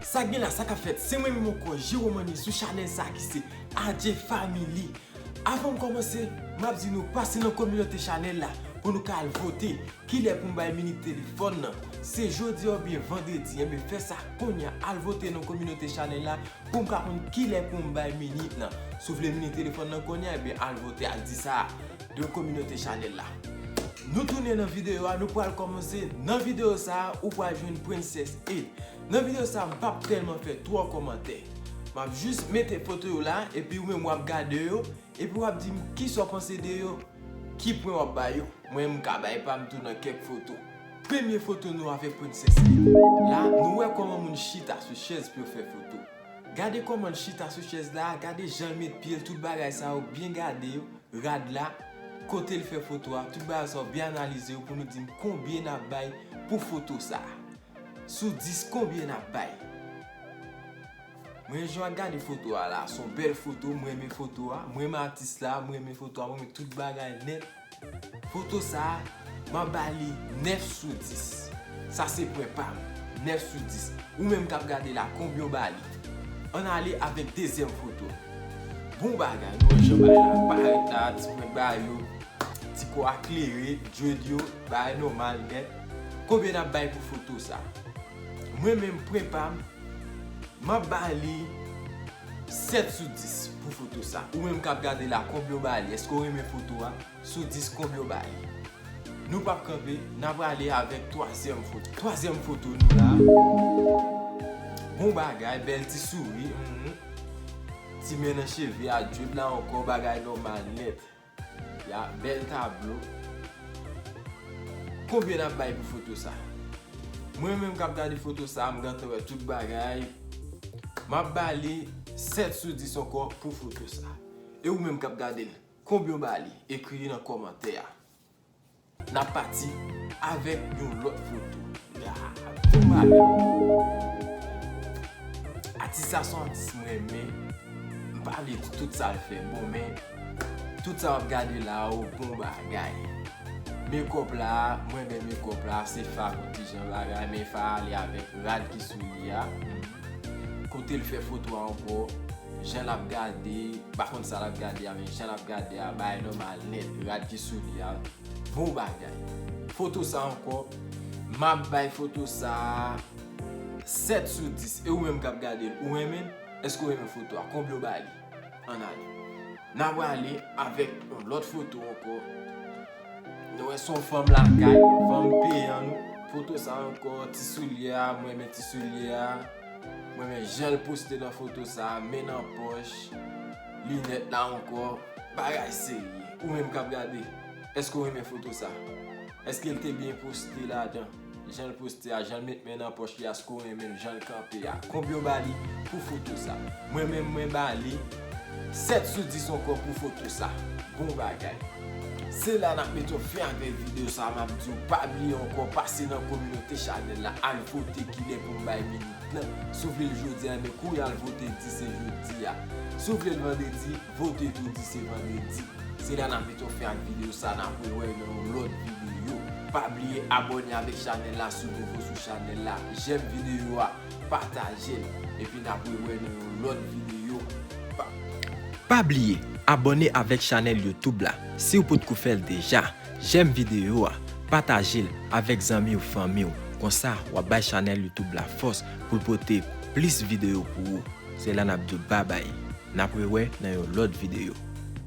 Sak gen la sa kap fèt se mwen menm ankò Jeromany sou chanèl sa ki se Adjee family Avanm kòmanse map di nou pase nan kominote chanèl la pou nou ka al vote kilè poum bay minik telefòn nan se jodi oubyen vandredi enben fè sa kounya al vote nan kominote chanèl la poum ka konn kilè poum bay minik nan sou vle minik telefòn nan kounya enben al vote al di sa. de kominote chanèl la Nou tounen nan video a nou pral kòmanse nan video sa ou pral jwenn princess e nan video sa m pap tèlman fè twò kòmantè map jis mete foto yo la epi ou menm wap gade yo epi wap dim kisa w panse de yo ki pwen wap ba yo mwen menm m ka bay pa m tou nan kèk foto premye foto nou avèk princess e la nou wè kòman moun chita sou chèz pou yo fè foto gade kòman l chita sou chèz la gade jan l met pye l tout bagay sa yo byen gade yo. rad la, kote l fè foto a, tout bagay sa yo byen analize yo pou nou di m konbyen nap bay pou foto sa. Sou 10 konbyen nap bay? Mwen jwa gade foto a la, son bèl foto, m renmen foto a, m renmen atis la, m renmen foto a, m renmen tout bagay nèt. Foto sa Map ba li 9 sou 10. Sa se pwen pam. 9 sou 10. Ou menm kap gade la konbyen ou ba li? Ann ale avèk dezyèm foto. Bon bagay. Nou wè jan bagay la parèt la, ti pwen bay yo, ti kò a klere, dread yo, bagay nòmal nèt. Konbyen nap bay pou foto sa? Mwen menm pwen pam, map ba li 7 sou 10 pou foto sa. Ou menm kap gade la konbyen ou ba li? Èske ou renmen foto a? Sou Disco Global. Nou pap kanpe, n ap ale avèk twazyèm foto. Twazyèm foto nou la. Bon bagay, bèl ti souri. Ti men nan cheve a, dread la ankò, bagay nòmal nèt. Ya, bèl tablo. Konbyen n ap bay pou foto sa? Mwen menm k ap gade foto sa, m gentan wè tout bagay. M ap ba li 7 sou 10 ankò pou foto sa. E ou menm k ap gade l? Konbyen w ba li? Ekri li nan kòmantè a. N ap pati avèk yon lòt foto. Konbyen w ba li? Atis la se yon atis m renmen. M pa vle di tout sa l fè bon men, tout sa w ap gade la yo bon bagay. Mekòp la, m renmen mekòp la. Se fa pou ti jan bagay men fa ale avèk rad ki sou li a. Kote l fè foto a ankò, Jan lap gade, pa konn sa lap gade a men jan lap gade a bagay nòmal nèt, rad ki sou li a bon bagay. Foto sa ankò, map bay foto sa 7 sou 10 e ou menm kap gade l ou renmen l? Èske ou renmen foto a? Konbyen ou ba li? Ann ale. Na prale avèk yon lòt foto ankò, nou wè son fanm lakay, fanm peyan nou, foto sa ankò, ti soulye a, mwen renmen ti soulye a. M renmen janl poste nan foto sa, men nan pòch, linèt la ankò, bagay serye. Ou menm kap gade, èske ou renmen foto sa? Èske l te byen poste ladan? Janl poste a, janl met men nan pòch li a, èske ou renmenl janl kanpe a? Konbyen ou bali pou foto sa? Mwen menm mwen bali 7 sou 10 ankò pou foto sa. Bon bagay. Se la nap met yon fen avèk video sa map diw pa bliye ankò pase nan kominote chanèl la al vote kilè poum bay minit nan si w vle l jodi a ebyen kou w al vote di se jodi a si w vle l vandredi vote tou di se vandredi se la nap met yon fen ak video sa nap re wè nan yon lòt video pa bliye abòne avèk chanèl la si w nouvo sou chanèl la jèm video a. Patajel epi na pre wè nan yon lot video bby. Pa bliye abòne avèk chanèl youtube la siw potko fèl deja, jèm video a, patajel avèk zanmiw fanmiw konsa wap bay chanèl youtube la fòs poul pote plis video pou ou, se la nap diw babay na pre wè nan yon lot video.